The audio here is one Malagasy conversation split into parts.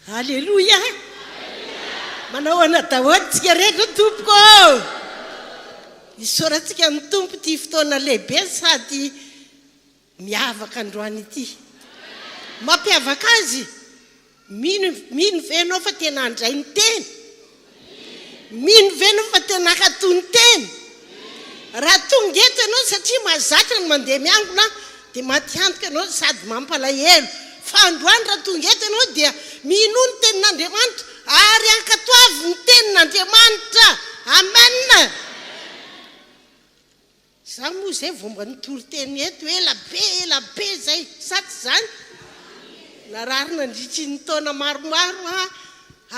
Aleloia! Manao ana daholo tsika rehetra tompoko ô! Isaorantsika ny tompo ity fotoana lehibe sady miavaka androany ity. Mampiavaka azy Mino Mino ve ianao fa tena handray ny Teny? Mino ve ianao fa tena hatoa ny Teny? Raha tonga eto ianao satria mahazatra ny mandeha miangona dia matiantoka ianao sady mampalahelo. Fa androany raha tonga eto ianao dia minoa ny Tenin'Andriamanitra ary ankatoavy ny Tenin'Andriamanitra. Amen! Za moa zay vao mba nitory teny eto ela be ela be zay, sa tsy zany? Narary nandritry ny taona maromaro aho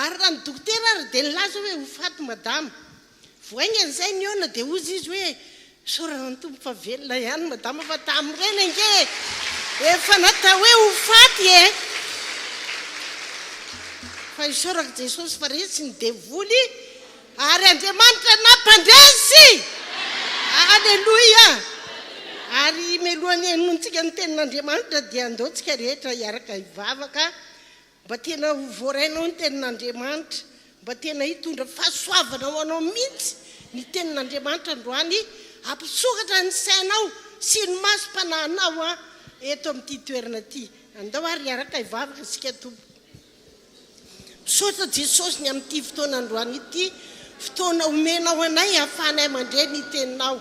ary raha ny dokotera ary dia nilaza hoe ho faty madama. Vao haingana izay nihaona dia hozy izy hoe isaorana ny Tompo fa velona ihany madama fa tamin'ireny ange efa natao hoe ho faty e! Fa isaorako Jesosy fa resy ny devoly Ary Andriamanitra nampandresy! Aleloia! Ary mialohan'ny henointsika ny Tenin'Andriamanitra dia andao tsika rehetra hiaraka hivavaka mba tena ho voarainao ny Tenin'Andriamanitra, mba tena hitondra fahasoavana ho anao mihitsy ny Tenin'Andriamanitra androany, hampisokatra ny sainao sy ny masom-panahinao eto amin'ity toerana ity. Andao ary hiaraka hivavaka isika tompoko. Misaotra Jesosy ny amin'ity fotoana androany ity, fotoana omenao anay ahafahanay mandre ny teninao.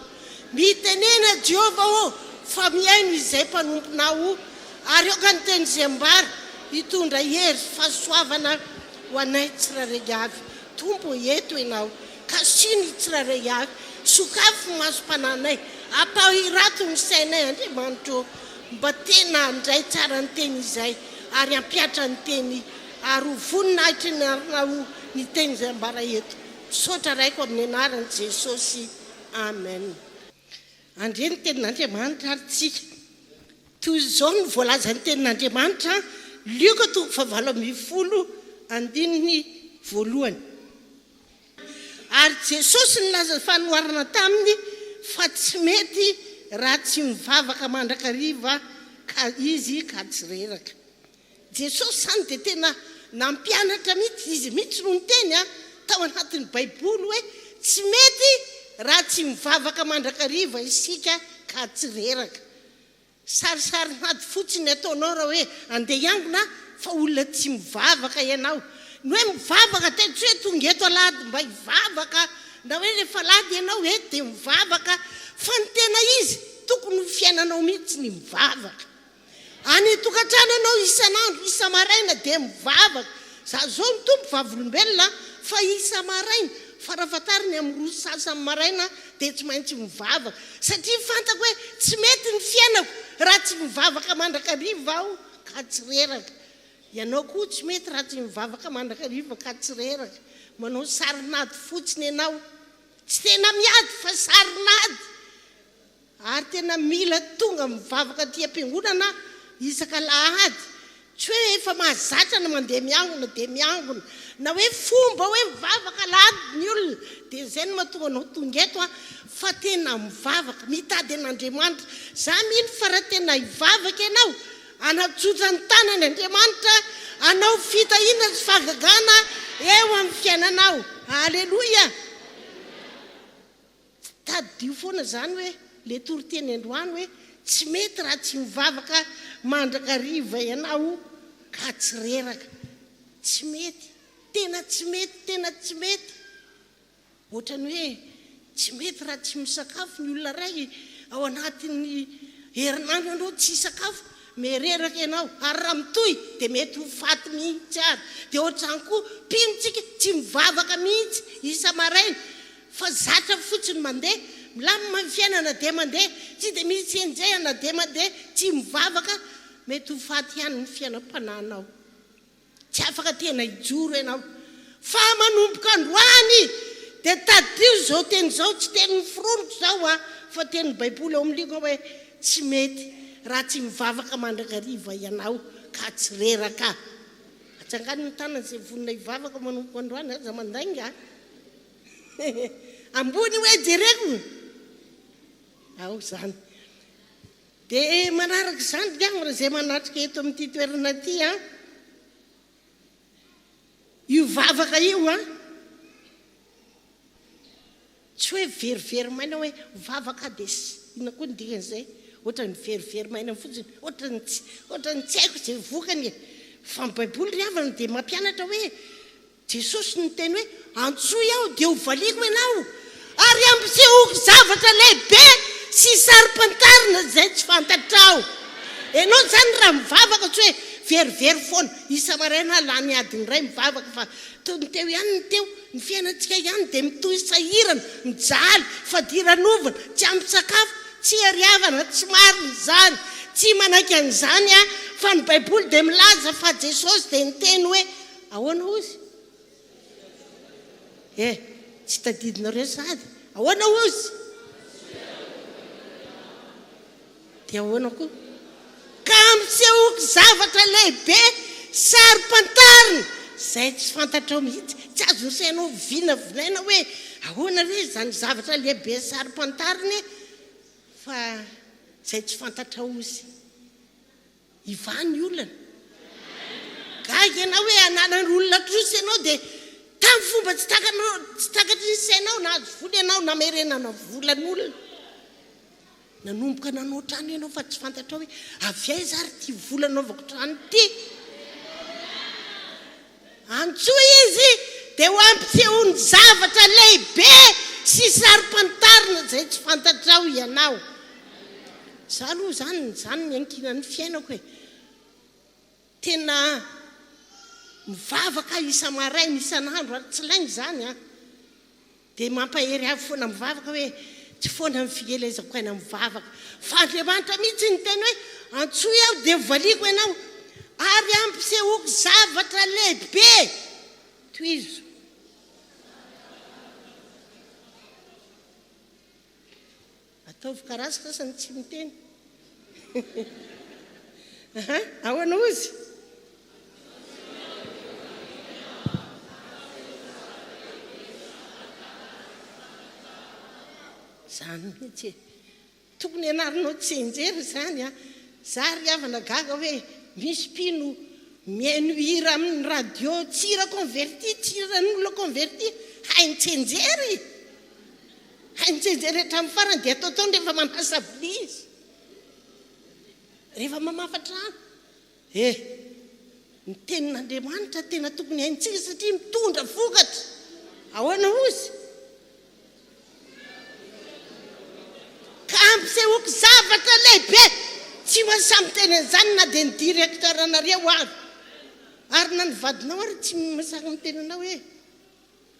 Mitenena Jehovah ô, fa mihaino izay mpanomponao o, ary aoka ny teny izay ambara hitondra hery, fahasoavana ho anay tsirairay avy. Tompo ô, eto ianao, kasio ny tsirairay avy, sokafy ny masom-pananay, ampahirato ny sainay Andriamanitra ô. Mba tena handray tsara ny teny izay ary hampiatra ny teny ary ho voninahitry ny arinao ny teny izay ambara eto. Misaotra Raiko amin'ny anaran'i Jesosy. Amen. Handre ny tenin'Andriamanitra ary tsika. Toy izao no voalazan'ny tenin'Andriamanitra, Lioka toko fahavalo ambin'ny folo, andininy voalohany. Ary Jesosy nilaza fanoharana taminy fa tsy mety raha tsy mivavaka mandrakariva ka izy ka tsy reraka. Jesosy zany dia tena nampianatra mihitsy, izy mihitsy no niteny a, tao anatin'ny baiboly hoe tsy mety raha tsy mivavaka mandrakariva isika ka tsy reraka. Sarisary mady fotsiny ny ataonao raha hoe andeha hiangona fa olona tsy mivavaka ianao. Ny hoe mivavaka teto tsy hoe tonga eto alahady mba hivavaka na hoe rehefa alahady ianao eto dia mivavaka fa ny tena izy tokony ho fiainanao mihitsy ny mivavaka. Any an-tokantrano ianao isan'andro, isa-maraina dia mivavaka. Za zao ny Tompo vavolombelona fa isa-maraina, fara fahatariny amin'ny roa sy sasany maraina, dia tsy maintsy mivavaka satria fantako hoe tsy mety ny fiainako raha tsy mivavaka mandrakariva aho ka tsy reraka, ianao koa tsy mety raha tsy mivavaka mandrakariva ka tsy reraka, manao sarin'ady fotsiny ianao, tsy tena miady fa sarin'ady, ary tena mila tonga mivavaka aty am-piangonana isaka alahady Tsy hoe efa mahazatra ny mandeha miangona dia miangona, na hoe fomba hoe mivavaka alahady ny olona dia izay no mahatonga anao tonga eto an, fa tena mivavaka, mitady an'Andriamanitra. Za mino fa raha tena hivavaka ianao, hanatsotra ny tanany Andriamanitra hanao fitahiana sy fahagagana eo amin'ny fiainanao. Aleloia! Tsy tadidio foana izany hoe le toriteny androany hoe tsy mety raha tsy mivavaka mandrakariva ianao ka tsy reraka. Tsy mety. Tena tsy mety, tena tsy mety. Ohatrany hoe tsy mety raha tsy misakafo ny olona iray ao anatin'ny herinandro ianao tsy hisakafo, me reraka ianao. Ary raha mitohy dia mety ho faty mihitsy ary. Dia ohatr'izany koa mpino tsika tsy mivavaka mihitsy isa-maraina. Fa zatra fotsiny mandeha, milamina ny fiainana na dia mandeha, tsy dia misy tsy enjehina na dia mandeha, tsy mivavaka, mety ho faty ihany ny fiainam-panahinao. Tsy afaka tena hijoro ianao. Fa manomboka androany dia tadidio izao teny izao, tsy tenin'ny foroniko izao an, fa tenin'ny Baiboly ao amin'ny liona hoe, Tsy mety raha tsy mivavaka mandrakariva ianao ka tsy reraka. Atsangano ny tanana izay vonona hivavaka manomboka androany, aza mandainga. Ambony hoe jereko ao zany. Dia manaraka izany dia amina izay manatrika eto amin'ity toerana ity an. Io vavaka io an. Tsy hoe verivery maina hoe vavaka dia ina koa ny dikan'izay. Ohatra ny verivery maina fotsiny, ohatra ny tsy, ohatra ny tsy haiko izay vokany. Fa ny Baiboly ry havana dia mampianatra hoe Jesosy niteny hoe, Antsoy Aho, dia hovaliako ianao, ary hampisehoko zavatra lehibe sy saro-pantarina izay tsy fantatrao. Ianao izany raha mivavaka tsy hoe very very foana, isa-maraina aho lany adiny iray mivavaka fa toy ny teo ihany ny teo, ny fiainantsika ihany dia mitohy sahirana, mijaly, fadiranovana, tsy ampy sakafo, tsy hery havana, tsy marina izany, tsy manaiky an'izany aho, fa ny baiboly dia milaza fa Jesosy dia niteny hoe, Ahoana hoy izy? Eh! Tsy tadidinareo sady? Ahoana hoy izy? Dia ahoana koa? Ka ampisehoako zavatra lehibe saro-pantarina izay tsy fantatrao mihitsy. Tsy azon'ny sainao vinavinaina hoe ahoana re izany zavatra lehibe saro-pantarina e! Fa izay tsy fantatrao hoy izy. Ivan ny olana. Gaga ianao hoe ananan'ny olona trosa ianao dia tamin'ny fomba tsy takanao, tsy takatry ny sainao nahazo vola ianao namerenana volan'olona. Nanomboka nanao trano ianao fa tsy fantatrao hoe avy aiza ary ity vola anaovako trano ity. Antsoy izy dia ho ampisehoany zavatra lehibe sy saro-pantarina izay tsy fantatrao ianao. Izaho aloha izany izany niankinan'ny fiainako e. Tena mivavaka aho isa-maraina, isan'andro ary tsy lainga izany an. Dia mampahery ahy foana mivavaka hoe, tsy foana ny fielezako aina mivavaka, fa Andriamanitra mihitsy niteny hoe, Antsoy Aho dia hovaliako ianao, ary ampisehoako zavatra lehibe. Tohizo. Ataovy karasy fa samy tsy miteny aha ahoana ozy? Zany mihitsy e! Tokony ianarinao tsianjery izany a! Za ry havana gaga hoe misy mpino mihaino hira amin'ny radio tsy hira converti, tsy hiran'olona converti hainy tsianjery! Hay mijery hatramin'ny farany dia ataotaony rehefa manasa vilia izy. Rehefa mamafa trano. E! Ny tenin'Andriamanitra tena tokony haintsika satria mitondra vokatra. Ahoana hoy izy? Ka ampisehoako zavatra lehibe. Tsy maintsy miteny an'izany na dia ny directeur-nareo ary. Ary na ny vadinao ary tsy maintsy miteny anao hoe.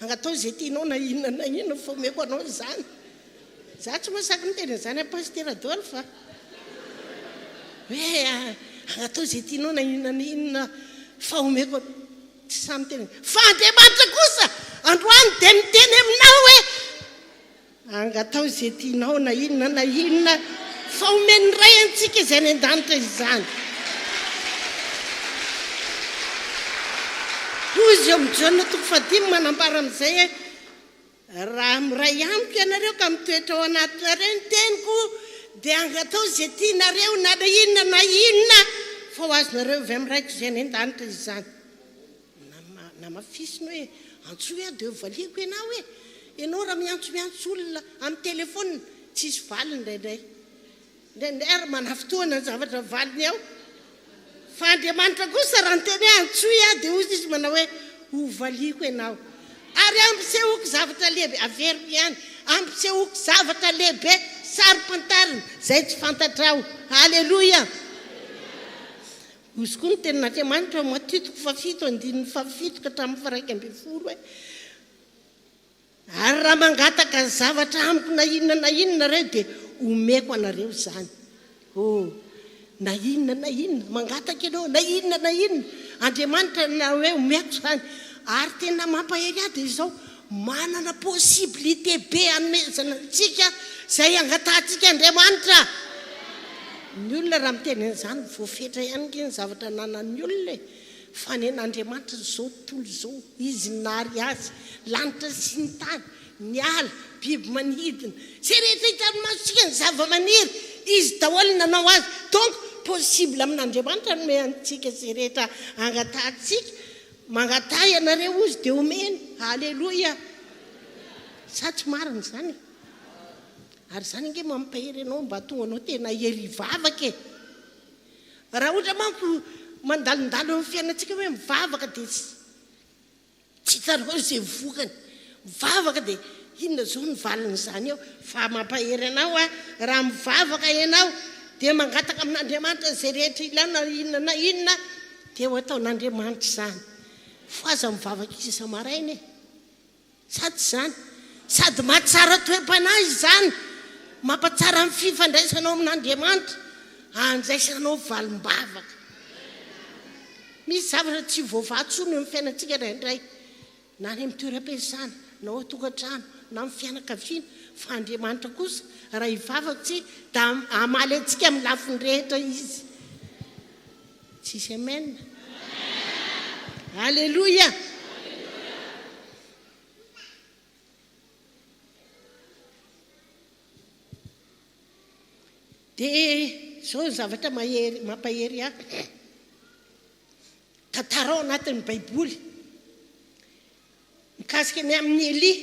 Anga atao izay tianao na inona na inona fa omeko anao izany. Za tsy mahasaky miteny an'izany an'i Pasitera Adolphe a! Hoe anga atao izay tianao na inona na inona fa omeko anao. Tsy sahy miteny. Fa Andriamanitra kosa androany dia miteny aminao hoe. Angataho izay tianao na inona na inona fa omen'ny Ray antsika izay any an-danitra izany. Hoy izy eo amin'ny Jaona toko fahadimy manambara amin'izay hoe, Raha miray amiko ianareo ka mitoetra ao anatinareo ny teniko, dia angataho izay tianareo na inona na inona fa ho azonareo avy amin'ny Raiko izay any an-danitra izany. Namafisiny hoe, Antsoy aho dia hovaliako ianao hoe, Ianao raha miantsomiantso olona amin'ny telefaonina, tsy hisy valiny indraindray. Indraindray ary manafintohina ny zavatra mivaliny ao. Fa Andriamanitra kosa raha niteny hoe, Antsoy aho, dia hoy Izy manao hoe, Hovaliako ianao. Ary ampisehoako zavatra lehibe, averiko ihany, ampisehoako zavatra lehibe saro-pantarina izay tsy fantatrao. Aleloia! Hozy koa ny tenin'Andriamanitra ao Matitiko fahafito andininy fahafito ka hatramin'ny faharaika ambin'ny folo hoe, Ary raha mangataka zavatra amiko na inona na inona ianareo dia homeko anareo izany. Oh, na inona na inona mangataka ianao, na inona na inona, Andriamanitra na hoe homeko izany. Ary tena mampahery ahy dia izao, Manana possibilité be hanomezana antsika izay angatahantsika Andriamanitra. Ny olona raha miteny an'izany voafetra ihany ange ny zavatra ananan'ny olona e! Fa nen'Andriamanitra an'izao tontolo izao, Izy nahary azy, lanitra sy ny tany, ny ala, biby manidina, izay rehetra hitan'ny masontsika, ny zava-maniry, Izy daholo nanao azy. Donc possible amin'Andriamanitra hanome antsika izay rehetra angatahantsika Mangataha ianareo hozy dia omeny. Aleloia! Sa tsy marina izany e? Ary izany ange mampahery anao mba hahatonga anao tena hery hivavaka e! Raha ohatra manko mandalondalo amin'ny fiainantsika hoe mivavaka dia tsy hitanao izay vokany. Mivavaka dia inona zao ny valin'izany eo fa mampahery anao a! Raha mivavaka ianao dia mangataka amin'Andriamanitra izay rehetra ilainao na inona na inona dia ho ataon'Andriamanitra izany fa aza mivavaka isa-maraina e! Sa tsy izany? Sady mahatsara toe-panahy izany, mampatsara ny fifandraisanao amin'Andriamanitra, andraisanao valim-bavaka. Misy zavatra tsy voavaha intsony eo amin'ny fiainantsika indraindray. na any amin'ny toeram-piasana, na ao an-tokantrano, na amin'ny fianakaviana, fa Andriamanitra kosa raha hivavaka tsy da hamaly antsika amin'ny lafiny rehetra Izy. Tsisy amen? Aleloia! Dia izao ny zavatra mahery, mampahery ahy. Tantara ao anatin'ny Baiboly mikasika ny amin'i Elia.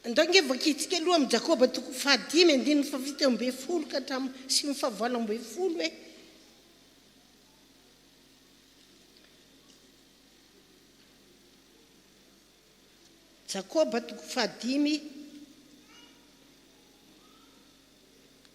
Andao ange vakintsika aloha amin'ny Jakoba toko fahadimy andininy fahafito ambin'ny folo ka hatramin'ny sivy fahavalo ambin'ny folo hoe Jakoba toko fahadimy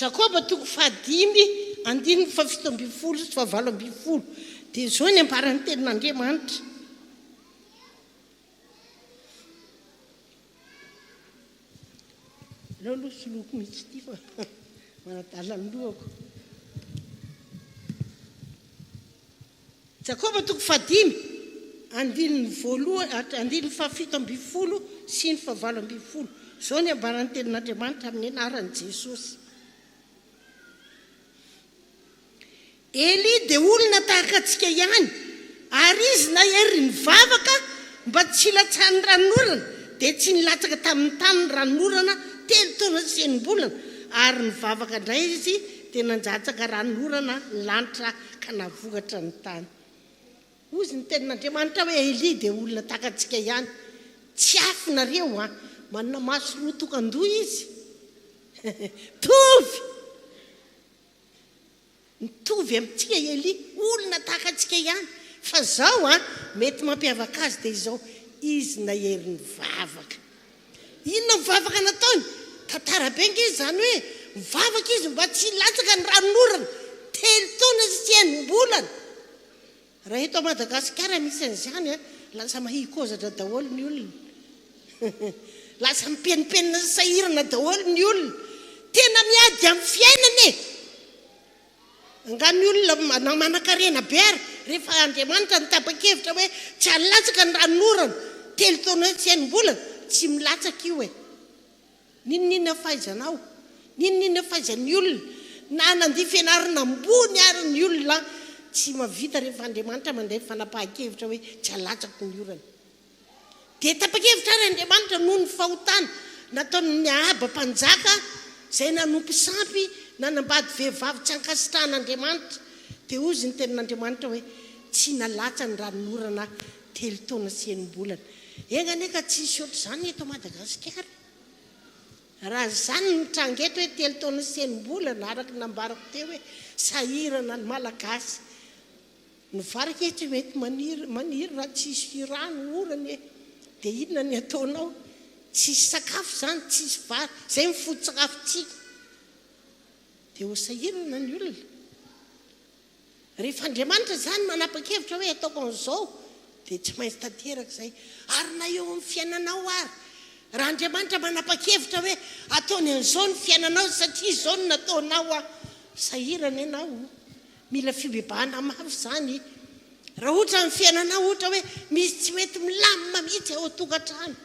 Jakoba toko fahadimy andininy fahafito ambin'ny folo sy fahavalo ambin'ny folo dia izao ny ambaran'ny tenin'Andriamanitra aleo aloha soloko mihitsy ity fa manadala ny lohako Jakoba toko fahadimy, andininy voalohany, andininy fahafito ambin'ny folo sy ny fahavalo ambin'ny folo. Izao ny ambaran'ny Tenin'Andriamanitra amin'ny anaran'i Jesosy. Elia dia olona tahaka antsika ihany, ary izy na hery nivavaka mba tsy hilatsahan'ny ranonorana, dia tsy nilatsaka tamin'ny tany ny ranonorana telo taona sy enim-bolana, ary nivavaka indray izy, dia nanjatsaka ranonorana ny lanitra ka navohatra ny tany. Hozy ny tenin'Andriamanitra hoe, Elia dia olona tahaka antsika ihany. Tsy afo nareo an! Manana maso roa tokan-doha izy. Mitovy! Mitovy amintsika i Elia, olona tahaka antsika ihany. Fa izao an, mety mampiavaka azy dia izao, izy nahery nivavaka. Inona ny vavaka nataony? Tantara be ange izany hoe nivavaka izy mba tsy hilatsaka ny ranon'orana telo taona sy enim-bolana. Raha eto Madagasikara misy an'izany an, lasa mahikozatra daholo ny olona. Lasa mipenipenina sy sahirana daholo ny olona. Tena miady amin'ny fiainana e! Angaha ny olona manan-karena be ary rehefa Andriamanitra no tapa-kevitra hoe tsy halatsaka ny ranon'orana telo taona sy enim-bolana, tsy milatsaka io e! N'inon'inona fahaizanao, n'inon'inona fahaizan'ny olona, na nandia fianarana ambony ary ny olona an, tsy mahavita rehefa Andriamanitra mandray fanapahan-kevitra hoe tsy halatsaka ny orana. Dia tapa-kevitra àry Andriamanitra noho ny fahotana nataon'i Ahaba mpanjaka, izay nanompo sampy nanambady vehivavy tsy ankasitrahan'Andriamanitra. Dia hoy izy, Ny tenin'Andriamanitra hoe, Tsy nalatsa ny ranon'orana telo taona sy enim-bolana. Enga anie ka tsy hisy hoatr'izany eto Madagasikara e! Raha izany no mitranga eto hoe telo taona sy enim-bolana, araka ny nambarako teo hoe sahirana ny Malagasy. Ny vary ange tsy mety maniry maniry raha tsisy rano orana e! dia inona ny ataonao? tsisy sakafo izany tsisy vary izay ny foto-tsakafontsika dia ho sahirana ny olona rehefa Andriamanitra izany manapa-kevitra hoe ataoko an'izao dia tsy maintsy tanteraka izay ary na eo amin'ny fiainanao ary raha Andriamanitra manapa-kevitra hoe ataony an'izao ny fiainanao satria izao no nataonao an! sahirana ianao Mila fibebahana mafy izany. Raha ohatra amin'ny fiainanao ohatra hoe misy tsy mety milamina mihitsy ao an-tokantrano.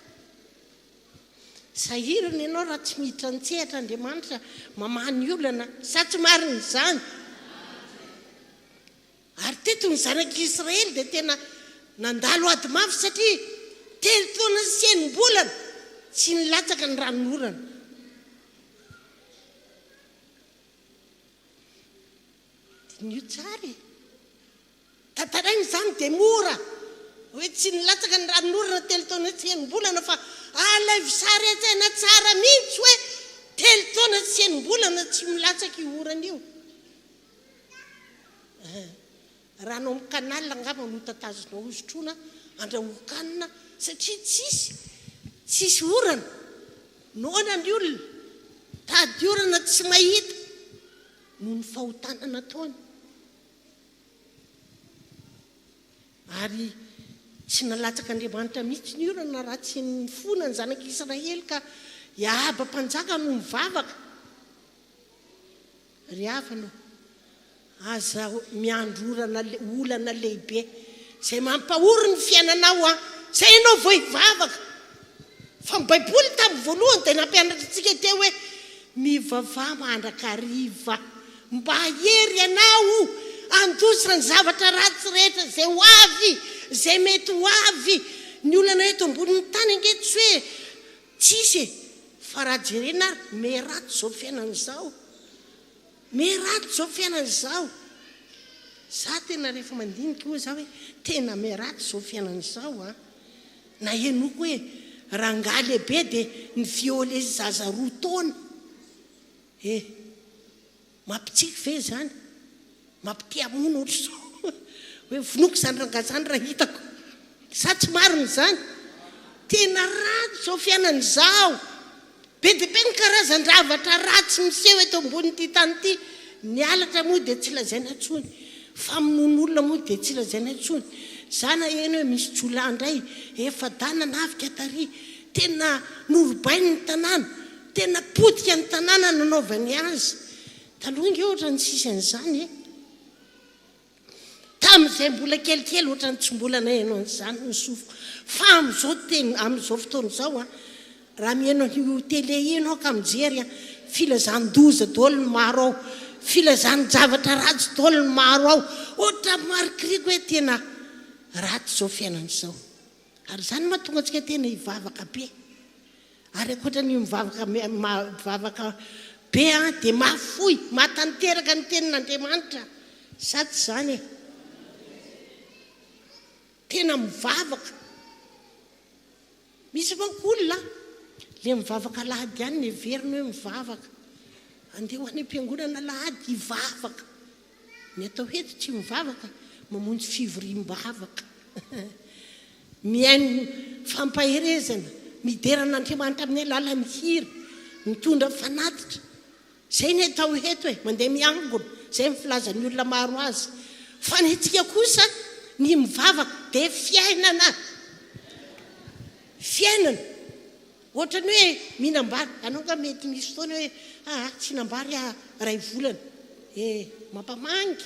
Sahirana ianao raha tsy miditra an-tsehatra Andriamanitra mamaha ny olana. Sa tsy marina izany? Ary teto ny zanak'i Israely dia tena nandalo ady mafy satria telo taona sy enim-bolana tsy nilatsaka ny ranonorana. Diniho tsara e! Tantaraina izany dia mora hoe tsy nilatsaka ny ranon'orana telo taona sy enim-bolana fa alaivo sary an-tsaina tsara mihitsy hoe telo taona sy enim-bolana tsy milatsaka io orana io. Raha anao amin'ny canal angamba no tatazonao hosotroina andrahoan-kanina satria tsisy tsisy orana, noana ny olona, tady orana tsy mahita noho ny fahotana nataony ary tsy nalatsaka Andriamanitra mihitsy ny orana raha tsy nifona ny zanak'Israely ka i Ahaba mpanjaka no nivavaka Ry havana o, aza miandry orana, olana lehibe izay mampahory ny fiainanao an, izay ianao vao hivavaka. Fa ny Baiboly tamin'ny voalohany dia nampianatra antsika teo hoe, Mivavaha mandrakariva, mba hahery ianao handositra ny zavatra ratsy rehetra izay ho avy, izay mety ho avy. Ny olana eto ambonin'ny tany ange tsy hoe Tsisy e! Fa raha jerena ary mais ratsy zao fiainana zao! Mais ratsy zao fiainana zao! Za tena rehefa mandinika oa za oe tena mais ratsy zao fiainana zao an! Na henoko oe rangahy lehibe de ni-violer zaza roa taona! Eh! Mampitsiky ve izany? Mampitia hamono ohatra izao hoe vonoiko izany rangahy izany raha hitako. Sa tsy marina izany? Tena ratsy izao fiainana izao. Be dia be ny karazan-javatra ratsy miseho eto ambonin'ity tany ity. Ny halatra moa dia tsy lazaina intsony. Famonoana olona moa dia tsy lazaina intsony. Izaho naheno hoe misy jiolahy indray efa-dana navika tary. Tena norobainy ny tanàna. Tena potika ny tanàna nanaovany azy taloha ange ohatrany tsisy an'izany e! Tamin'izay mbola kelikely ohatrany tsy mbola naheno an'izany ny sofiko fa amin'izao tena amin'izao fotoana izao a! Raha mihaino an'io tele io ianao ka mijery a! Filazan-doza daholo ny maro ao, filazan-javatra ratsy daholo ny maro ao, ohatran'ny marikiriko hoe tena ratsy izao fiainana izao. Ary izany no mahatonga antsika tena hivavaka be. Ary ankoatra ny mivavaka mivavaka be dia mahafoy, mahatanteraka ny tenin'Andriamanitra sa tsy izany e? Tena mivavaka. Misy manko olona le mivavaka alahady ihany no heveriny hoe mivavaka. Andeha ho any am-piangonana alahady hivavaka. Ny atao hoe tsy mivavaka, mamonjy fivoriam-bavaka, mihaino fampaherezana, midera an'Andriamanitra amin'ny alalan'ny hira, mitondra fanatitra. Izay ny atao eto hoe mandeha miangona, izay ny filazan'ny olona maro azy. Fa ny antsika kosa, ny mivavaka dia fiainana. Fiainana. Ohatran'ny hoe mihinam-bary. Ianao angaha mety misy fotoana hoe, aa tsy hihinam-bary aho iray volana. E, mampamangy.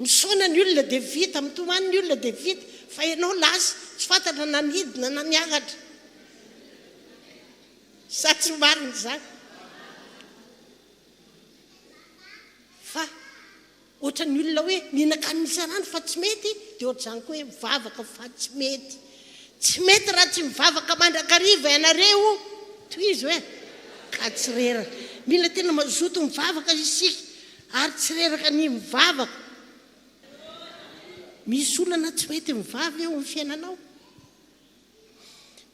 Misaona ny olona dia vita, mitomany ny olona dia vita, fa ianao lasa tsy fantatra na nidina na niakatra. Sa tsy marina izany? Fa Ohatran'ny olona hoe mihinan-kanina isan-andro fa tsy mety, dia ohatr'izany koa hoe mivavaka fa tsy mety. Tsy mety raha tsy mivavaka mandrakariva ianareo, tohizo e! Ka tsy reraka. Mila tena mazoto mivavaka isika, ary tsy reraka ny mivavaka. Misy olana tsy mety mivavy eo amin'ny fiainanao?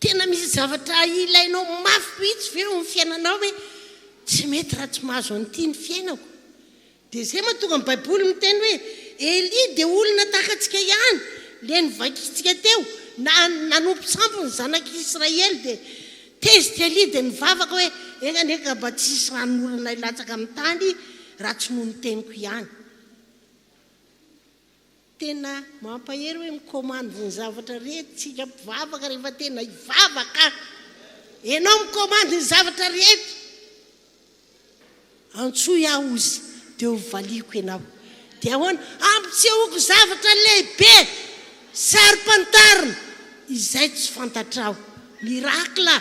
Tena misy zavatra ilainao mafy mihitsy ve eo amin'ny fiainanao hoe tsy mety raha tsy mahazo an'ity ny fiainako? Dia izay mahatonga ny baiboly miteny hoe Elia dia olona tahaka antsika ihany, ilay novakintsika teo, na nanompo sampy ny zanak'i Israely dia tezitra Elia dia nivavaka hoe enga anie ka mba tsy hisy ranon'olona hilatsaka amin'ny tany raha tsy noho ny teniko ihany. Tena mampahery hoe mikomandy ny zavatra rehetra tsika mpivavaka rehefa tena hivavaka enao mikomandy ny zavatra rehetra antsoy aho ozy de ho valiako enao de ahoana ampitsehoko zavatra lehibe saropantarina izay tsy fantatrao miracle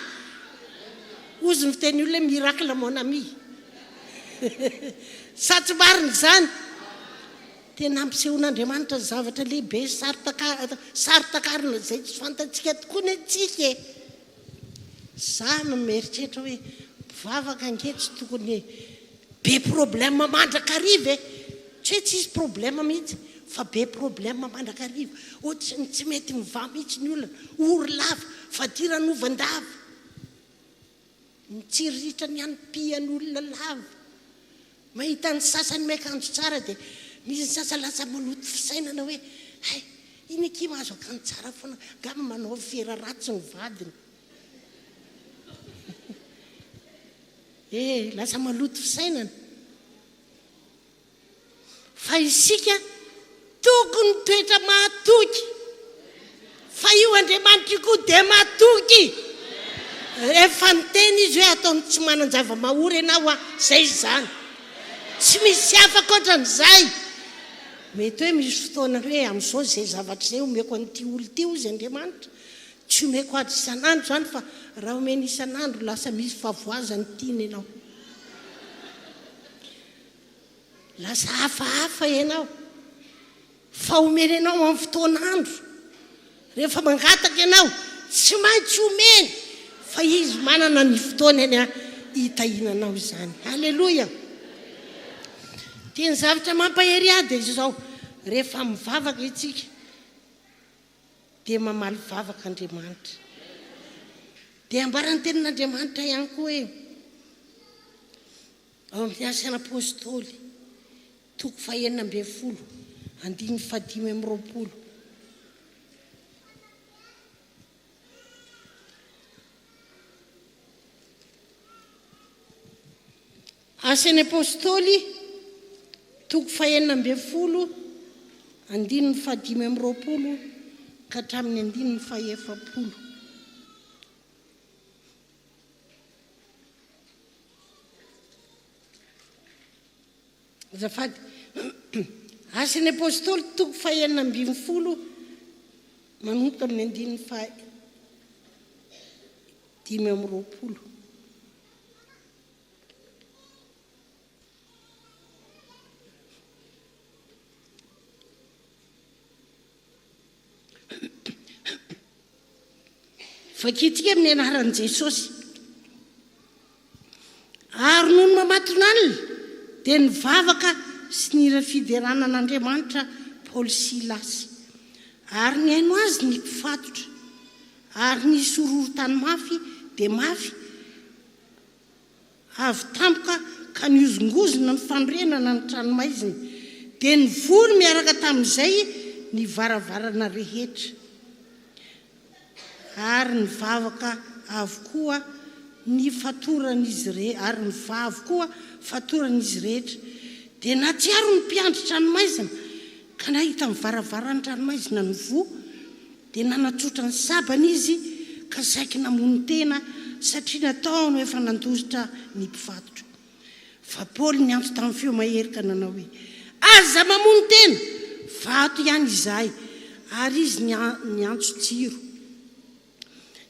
ozy ny fiteny olona miracle mon ami sa tsy marina izany Tena hampisehoan'Andriamanitra zavatra lehibe saro-takarina izay tsy fantatsika tokoa ny antsika e! Za no mieritreritra hoe mpivavaka ange tsy tokony be problème mandrakariva e! Tsy hoe tsisy problème mihitsy fa be problème mandrakariva, ohatran'ny tsy mety mivaha mihitsy ny olona, ory lava, fadiranovandava. Mitsiriritra ny any pian olona lava. Mahita ny sasany miakanjo tsara dia misy ny sasany lasa maloto fisainana hoe hay iny akia mahazo akanjo tsara foana angamba manao fera ratsy ny vadiny ee lasa maloto fisainana. Fa isika tokony mitoetra mahatoky. Fa io Andriamanitra io koa dia mahatoky. Rehefa niteny izy hoe ataony tsy manan-java-mahory ianao a, zay izany. Tsy misy hafa ankoatran'izay. Mety hoe misy fotoana hoe amin'izao izay zavatra izay omeko an'ity olona ity hozy Andriamanitra, tsy omeko azy isan'andro izany fa raha omeny isan'andro lasa misy fahavoazany tiany ianao. Lasa hafahafa ianao. Fa omena anao amin'ny fotoan'andro. Rehefa mangataka ianao, tsy maintsy omeny, fa Izy manana ny fotoanany hitahiana anao izany. Aleloia! Dia ny zavatra mampahery ahy dia izao, rehefa mivavaka isika, dia mamaly vavaka Andriamanitra. Dia ambaran'ny Tenin'Andriamanitra ihany koa hoe, Ao amin'ny Asan'ny Apôstôly, toko fahenina ambin'ny folo, andininy fahadimy amby roapolo. Asan'ny Apôstôly, toko fahenina ambin'ny folo, andininy fahadimy amby roapolo ka hatramin'ny andininy fahefapolo. Asan'ny Apôstôly, toko fahenina ambin'ny folo, manomboka amin'ny andininy faha dimy amby roapolo. Vakintsika amin'ny anaran'i Jesosy. Ary nony mamatonalina dia nivavaka sy nira fiderana an'Andriamanitra Paoly sy Silasy. Ary nihaino azy ny mpifatotra. Ary nisy horohorontany mafy dia mafy. Avy tampoka ka nihozongozona ny fanorenana ny tranomaizina, dia nivory miaraka tamin'izay ny varavarana rehetra, ary nivavaka avokoa ny fatoran'izy rehetra, ary nivaha avokoa fatoran'izy rehetra. Dia natsiaro ny mpiandry tranomaizina, ka nahita ny varavaran'ny tranomaizina nivoha. Dia nanatsotra ny sabany izy ka saiky namono tena satria nataony ho efa nandositra ny mpifatotra. Fa Paoly niantso tamin'ny feo mahery ka nanao hoe, Aza mamono tena! Fa ato ihany izahay. Ary izy niantso jiro.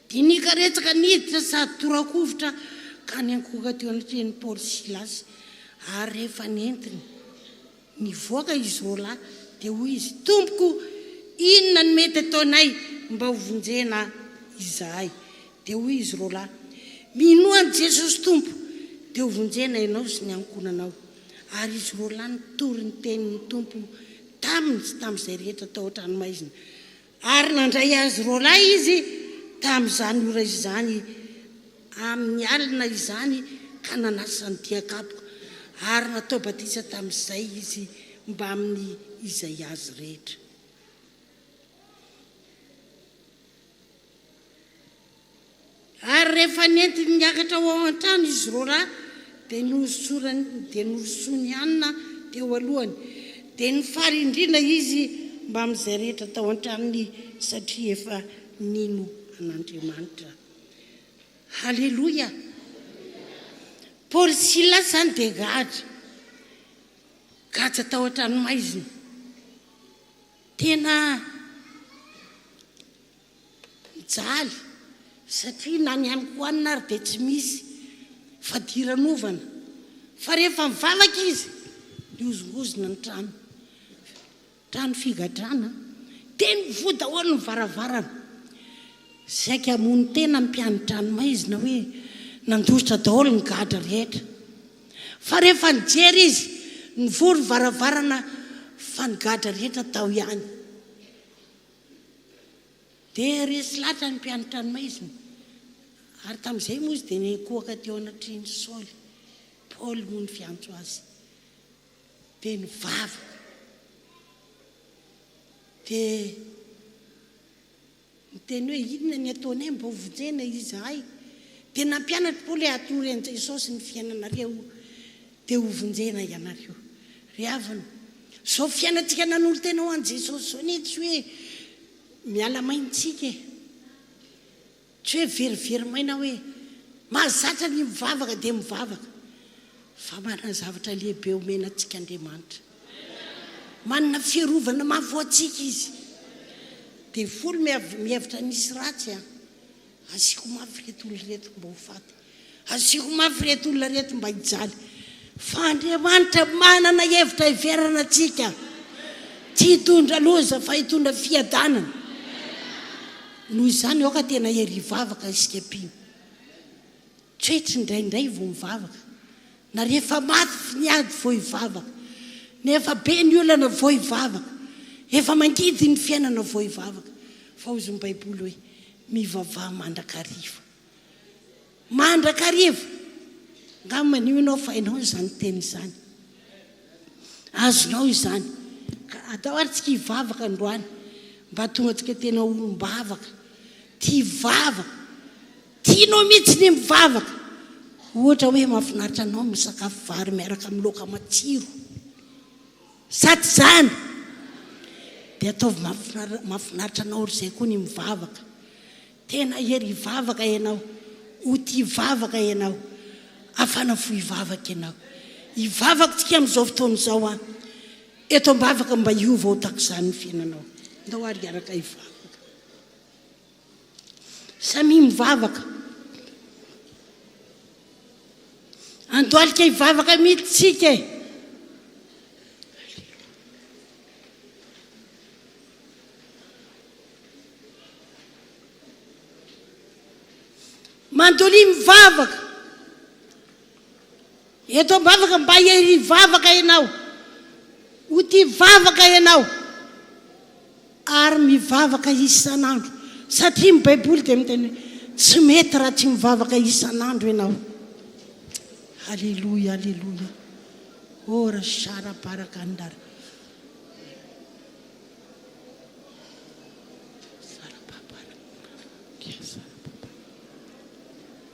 Dia nikaretsaka niditra sady tora-kovitra ka niankohoka teo anatrehan'i Paoly sy Silasy, ary rehefa nentiny Nivoaka i Zola dia hoy izy, Tompoko, inona no mety ataonay mba ho vonjena izahay? Dia hoy izy, Rola, minoa an'i Jesosy Tompo, dia ho vonjena ianao sy ny ankohonanao. Ary izy Rola nitory ny tenin'ny Tompo taminy sy tamin'izay rehetra tao an-tranomaizina. Ary nandray azy roalahy izy tamin' izany ora izany amin' ny alina izany ka nanasany dia-kapoka, ary natao batisa tamin' izay izy mbamin' ny izay azy rehetra. Ary rehefa nentiny niakatra ho ao an-trano izy roalahy, dia nohosorany, dia norosoany hanina teo alohany. Dia nifarindrina izy mbamin'izay rehetra tao an-tranony, satria efa nino an'Andriamanitra. Haleloia! Paoly sy Silasy izany dia gadra, gadra tao an-tranomaizina. Tena. Mijaly satria na ny amiko any ary dia tsy misy fadiranovana fa rehefa mivavaka izy mihozongozona ny trano, trano figadrana dia mivoha daholo ny varavarana, saika hamono tena ny mpiani-dranomaizina hoe nandositra daholo ny gadra rehetra fa rehefa nijery izy nivoha ny varavarana fa ny gadra rehetra tao ihany. Dia resy lahatra ny mpianatra ny maizina. Ary tamin'izay moa izy dia niankohoka teo anatrehan'i Saoly. Paoly moa no fiantso azy. Dia nivavaka. Dia niteny hoe inona ny ataonay mba hovonjena izahay. Dia nampianatry Paoly hoe atoroy an'i Jesosy ny fiainanareo. Dia ho vonjena ianareo. Ry havana, izao fiainantsika nanolo-tena ho an'i Jesosy izao anie tsy hoe miala maina isika e. Tsy hoe very very maina hoe mahazatra ny mivavaka dia mivavaka. Fa manana zavatra lehibe homena antsika Andriamanitra. Manana fiarovana mafy ho antsika Izy. Devoly mihevitra ny hisy ratsy an. Asiako mafy ireto olona ireto mba ho faty. Asiako mafy ireto olona ireto mba hijaly. Fa Andriamanitra manana hevitra hiverana antsika. Tsy hitondra loza fa hitondra fiadanana. Noho izany aoka tena hery hivavaka isika mpino. Tretry indraindray vao mivavaka na rehefa mafy ny ady vao hivavaka, na efa be ny olana vao hivavaka, efa mangidy ny fiainana vao hivavaka, fa hozy ny baiboly hoe mivavaha mandrakariva. Mandrakariva! Nga manio ianao fa hainao izany teny izany. Azonao izany. Ka atao ary tsika hivavaka androany mba tonga tsika tena olom-bavaka, tia vavaka. Tianao mihitsy ny mivavaka. Ohatra hoe mahafinaritra anao ny misakafo vary miaraka amin'ny laoka matsiro. Sa tsy izany? Dia ataovy mahafinaritra anao ry izay koa ny mivavaka. Tena hery hivavaka ianao. Ho tia hivavaka ianao. Afana fo hivavaka ianao. Hivavaka tsika amin'izao fotoana izao an. Eto am-bavaka mba hiova ho takizany ny fiainanao. Ndao ary hiaraka hivavaka. Samia mivavaka. Andohalika hivavaka mihitsy tsika e. Mandolia mivavaka. Eto ambavaka mba hiri vavaka ianao ho tia vavaka ianao ary mivavaka isan'andro satria ny baiboly dia miteny hoe tsy mety raha tsy mivavaka isan'andro ianao aleloia aleloia ora shara barakandara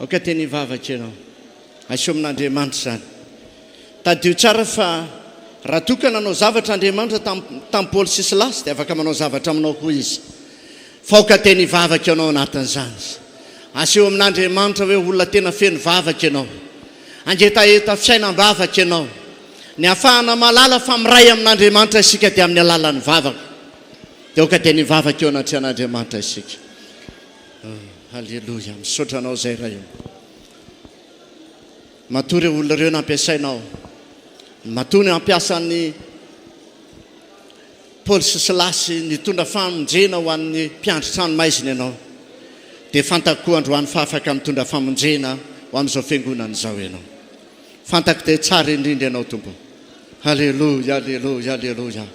Aoka teny hivavaka ianao. Asio amin'Andriamanitra izany. Tadidio tsara fa raha toa ka nanao zavatra Andriamanitra tamin'ny tamin'i Paoly sy Silasy dia afaka manao zavatra aminao koa Izy. Fa aoka teny hivavaka ianao anatin'izany. Asio amin'Andriamanitra hoe olona tena feno vavaka ianao. Hangetaheta fiainam-bavaka ianao. Ny hahafahana mahalala fa miray amin'Andriamanitra isika dia amin'ny alalan'ny vavaka. Dia aoka teny hivavaka eo anatrehan'Andriamanitra isika. Haleloia, misaotra anao zay Ray ô. Matoa ireo olona ireo nampiasainao, matoa ny hampiasan'ny Paoly sy Silasy nitondra famonjena ho an'ny mpiandry tranomaizina ianao, dia fantako koa androany fa afaka mitondra famonjena ho amin'izao fiangonana izao ianao. Fantako dia tsara indrindra Ianao Tompo oh. Aleloia Aleloia Aleloia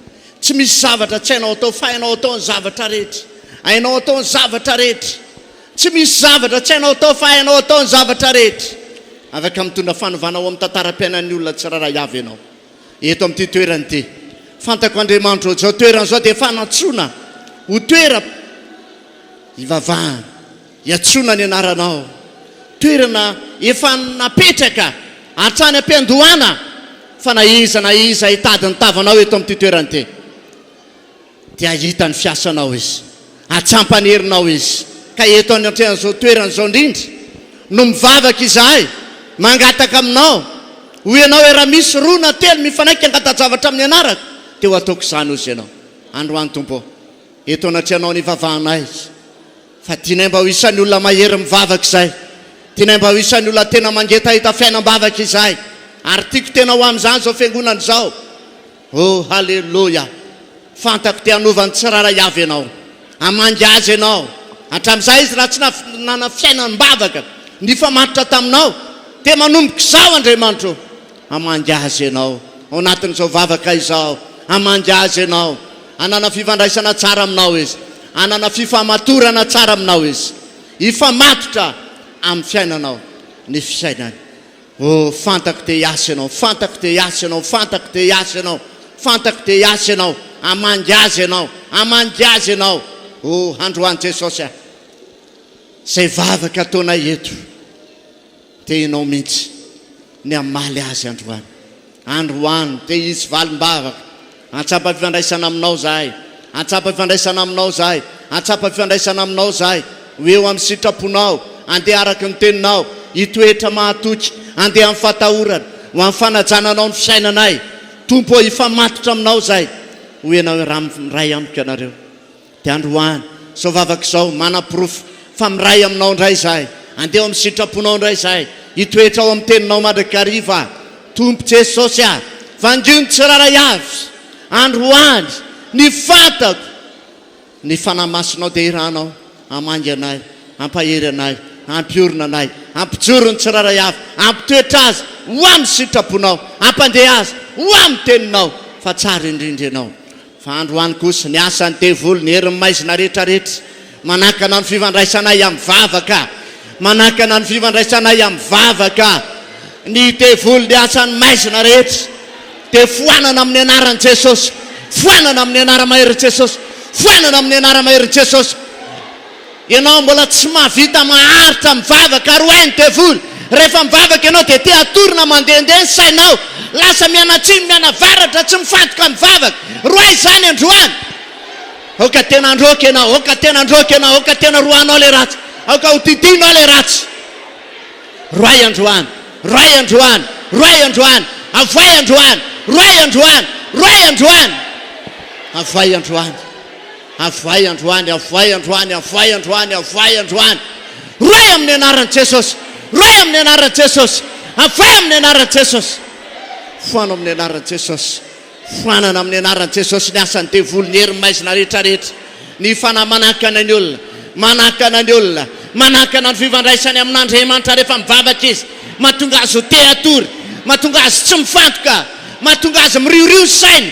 Tsy misy zavatra tsy hainao atao fa hainao atao ny zavatra rehetra Hainao atao ny zavatra rehetra Tsy misy zavatra tsy hainao atao fa hainao atao ny zavatra rehetra Afaka mitondra fanovana ho amin'ny tantaram-piainan'ny olona tsirairay avy Ianao Eto amin'ity toerana ity Fantako Andriamanitro ô Izao toerana izao dia fanantsoana ho toeram ivavahana Iantsoana ny anaranao. Toerana efa napetraka hatrany am-piandohana fa na iza na iza hitady ny tavanao eto amin'ity toerana ity dia hahita ny fiasanao Izy, hatsampany herinao Izy. Ka eto anatrehan'izao toerana izao indrindra no mivavaka izahay, mangataka aminao, hoy ianao e, raha misy roa na telo mifanaiky hangata-javatra amin'ny anarako dia ho ataoko izany hozy ianao. Androany Tompo ô, eto anatrehanao ny ivavahanay. Fa tianay mba ho isan'ny olona mahery mivavaka izay. Tianay mba ho isan'ny olona tena mangety hahita fiainam-bavaka izahay. Ary tiako tena ho amin'izany izao Fiangonana izao. Oh, haleloia! Fantako te hanova ny tsirairay avy ianao. Hamangy azy ianao. Hatramin'izay izy raha tsy nanana fiainam-bavaka nifamatotra taminao, dia manomboka izao, Andriamanitra ô! Hamangy azy ianao ao anatin'izao vavaka izao. Hamangy azy ianao hanana fifandraisana tsara aminao izy, hanana fifamatorana tsara aminao izy. Hifamatotra amin'ny fiainanao ny fiainany. Oh, fantako dia hiasa ianao, fantako dia hiasa ianao, fantako dia hiasa ianao, fantako dia hiasa ianao. Hamangy azy ianao, hamangy azy ianao. Oh, androany Jesosy a! Izay vavaka ataonay eto. Te ianao mihitsy ny hamaly azy androany. Androany, te hisy valim-bavaka. Antsapa fifandraisana aminao zahay. Antsapa fifandraisana aminao zahay. Antsapa fifandraisana aminao zahay. Ho eo amin'ny sitraponao. Andeha araka ny teninao. Hitoetra mahatoky. Andeha amin'ny fatahorana. Ho amin'ny fanajana anao ny fisainanay. Tompo ô, hifamatotra aminao zahay. Ho ianao Ray amiko ianareo. Dia androany izao vavaka izao manaporofo fa miray aminao indray izahay. Andeha ao amin'ny sitraponao indray izahay. Hitoetra ao amin'ny teninao mandrakariva aho. Tompo Jesosy a! Vangio ny tsirairay avy androany ny fatako. Ny Fanahy Masinao dia iranao hamangy anay, hampahery anay, hampiorina anay, hampijoro ny tsirairay avy, hampitoetra azy ho amin'ny sitraponao, hampandeha azy ho amin'ny teninao fa tsara indrindra ianao. Fa androany kosa, ny asan'ny devoly, ny herin'ny maizina rehetrarehetra, manakana ny fifandraisanay amin'ny vavaka, manakana ny fifandraisanay amin'ny vavaka. Ny devoly, ny asan'ny maizina rehetra, dia foanana amin'ny anaran'i Jesosy, foanana amin'ny anara-maherin'i Jesosy, foanana amin'ny anara-maherin'i Jesosy. Ianao mbola tsy mahavita maharitra mivavaka ary ho'ain'ny devoly. Rehefa mivavaka ianao dia te hatory na mandehandeha ny sainao. Lasa mianatsimo, mianavaratra, tsy mifantoka mivavaka. Roahy izany androany. Aoka tena handroaka ianao, aoka tena handroaka ianao, aoka tena roahinao ilay ratsy, aoka hodidianao ilay ratsy. Roahy androany, roahy androany, roahy androany, avohay androany, roahy androany, roahy androany, avohay androany. Avohay androany, avohay androany, avohay androany, avohay androany. Rohay amin'ny anaran'i Jesosy. Rohay amin'ny anaran'i Jesosy. Avohay amin'ny anaran'i Jesosy. Foano amin'ny anaran'i Jesosy. Foanana amin'ny anaran'i Jesosy ny asan'ny devoly, ny herin'ny maizina rehetra rehetra. Ny fanahy manakana ny olona, manakana ny olona, manakana ny fifandraisany amin'Andriamanitra rehefa mivavaka izy, mahatonga azy ho te hatory, mahatonga azy tsy mifantoka, mahatonga azy miriorio saina,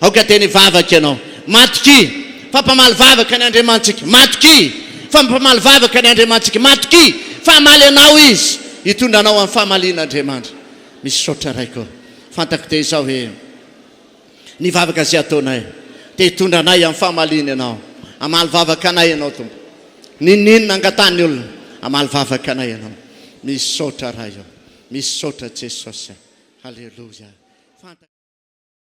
Aoka teny hivavaka ianao. Matokia fa mpamaly vavaka ny Andriamanitsika. Matokia fa mpamaly vavaka ny Andriamanitsika. Matokia fa hamaly anao Izy. Hitondra anao amin'ny famaliana Andriamanitra. Misaotra Raiko. Fantako dia izao hoe ny vavaka izay ataonay dia hitondra anay amin'ny famaliana Ianao. Hamaly vavaka anay Ianao Tompo. N'inon'inona angatahan'ny olona, hamaly vavaka anay Ianao. Misaotra Ray ô. Misaotra Jesosy. Haleloia. Fantako.